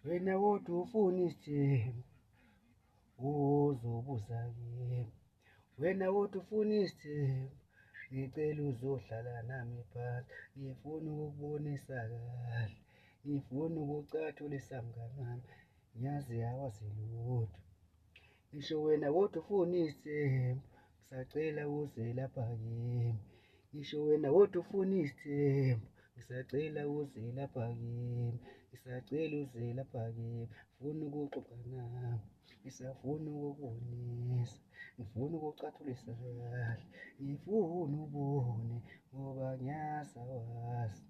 wena kodwa ufuna isithembu uzobuza kimi wena kodwa ufuna isithembu ngicela uzohlala nami phansi ngifuna ukubonisa kahle ngifuna ukucathulisa mngani wami ngiyazi awazi lutho Ngisho wena kodwa ufuna isithembu ngisacela uze lapha kimi ngisho wena kodwa ufuna isithembu ngisacela uze lapha kimi ngisacela uze lapha kimi ngifuna ukuxoxa nawe ngisafuna ukubonisa ngifuna ukucathulisa kahle ngifuna ubone ngoba ngiyasawazi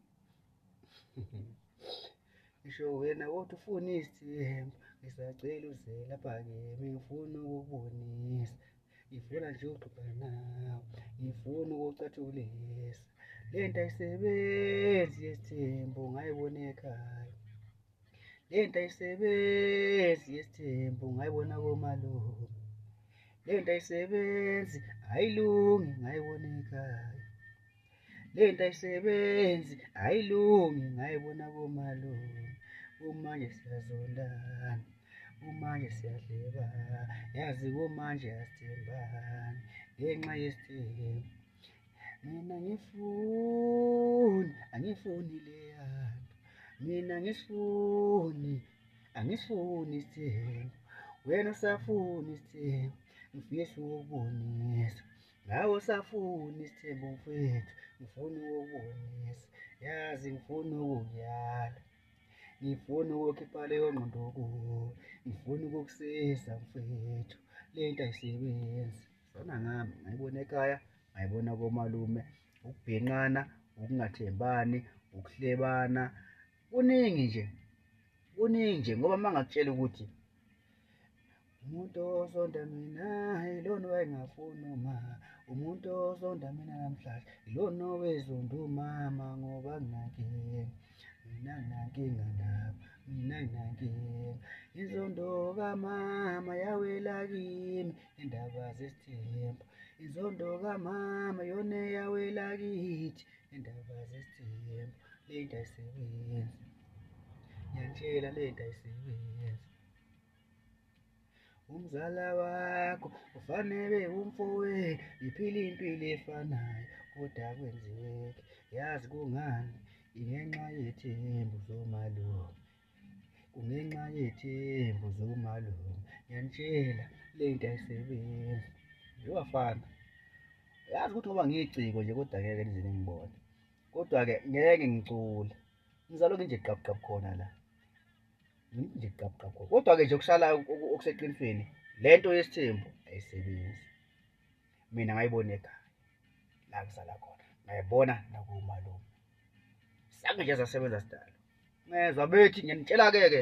ngisho wena kodwa ufuna isithembu ngisacela uze lapha kimi ngifuna ukubonisa ngifuna nje uxoxa nawe ngifuna ukucathulisa le nto ayisebenzi yesithembu ngayibona ekhaya le nto ayisebenzi yesithembu ngayibona komalume le nto ayisebenzi ayilungi ngayibona ekhaya le nto ayisebenzi ayilungi ngayibona komalume kumanje siyazondana kumanje siyadlebana yazi kumanje asithembani ngenxa yesithembu mina ngifuni angifuni leyanto mina ngisifuni angisifuni isithembu wena usafuni isithembu ngifisa ukubonisa Nawe usafuni isithembu mfethu, ngifuna ukubonisa. Yazi ngifuna ukuyala. Ngifuna ukukhipha leyo ngqondo kuwe. Ngifuna ukukusiza mfethu. Le nto ayisebenzi. Zona ngami, ngayibona ekhaya, ngayibona komalume. Ukubhinqana, ukungathembani, ukuhlebana. Kuningi nje. Kuningi nje ngoba mangakutshela ukuthi umuntu osonda mina ilona owayengafuni uma umuntu osonda mina namhlanje ilona owezonda umama ngoba nginankinga mina nginankinga nabo mina nginankinga inzondo kamama yawela kimi indaba zesithembu inzondo kamama yona eyawela kithi indaba zesithembu le nto ayisebenzi ngiyantshela le nto ayisebenzi umzala wakho ufanele umfowe iphile impilo efanayo kodwa kwenzeki yazi kungani ingenxa yethembu zomalume kungenxa yethembu zomalume ngiyanitshela le nto ayisebenzi yowafana yazi ukuthi ngoba ngiyiciko nje kodwa ngeke nize ningibone kodwa-ke ngeke ngicule ngizalokhu nje qabqab khona la nje gqabugqabhu kodwa-ke nje okusalayo okuseqinisweni le nto yesithembu ayisebenzi mina ngayibona ekhaya la kusala khona ngayibona nakumalume sange nje zasebenza sidalo ngezwa bethi ngiyanitshela-ke-ke